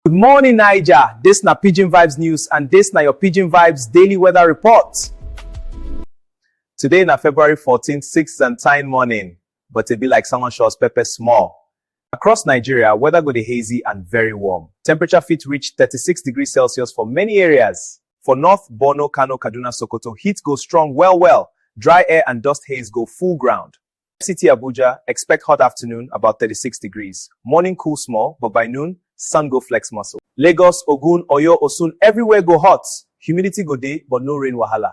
Good morning, Niger. This na Pidgin Vibes News and this na your Pidgin Vibes Daily Weather Report. Today na February 14th, 6th and time morning, but it be like someone shows pepper small. Across Nigeria, weather go dey hazy and very warm. Temperature fit reach 36 degrees Celsius for many areas. For North, Borno, Kano, Kaduna, Sokoto, heat go strong well well. Dry air and dust haze go full ground. FCT Abuja, Expect hot afternoon, about 36 degrees. Morning cool small, but by noon, sun go flex muscle. Lagos, Ogun, Oyo, Osun, everywhere go hot. Humidity go dey, but no rain wahala.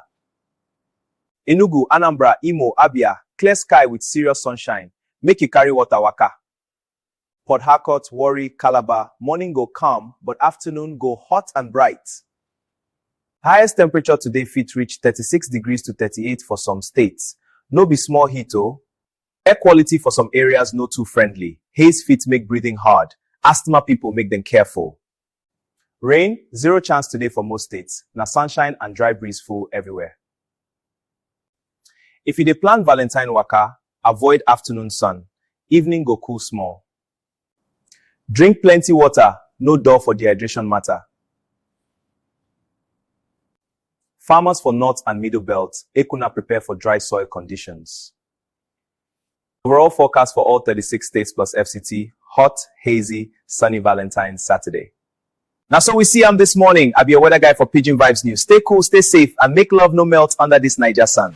Enugu, Anambra, Imo, Abia, clear sky with serious sunshine. Make you carry water waka. Port Harcourt, Warri, Calabar, morning go calm, but afternoon go hot and bright. Highest temperature today fit reach thirty-six degrees to thirty-eight for some states. No be small heat o! Air quality for some areas no too friendly, haze fit make breathing hard, asthma pipo make dem careful. Rain, zero chance today for most states. Na sunshine and dry breeze full everywhere. If you dey plan Valentine waka, avoid afternoon sun. Evening go cool small. Drink plenty water, no dull for dehydration matter. Farmers for north and middle belt, make una prepare for dry soil conditions. Overall forecast for all 36 states plus FCT, hot, hazy, sunny Valentine's Saturday. Now, so we see I'm this morning. I'll be a weather guy for Pidgin Vibes News. Stay cool, stay safe, and make love no melt under this Niger sun.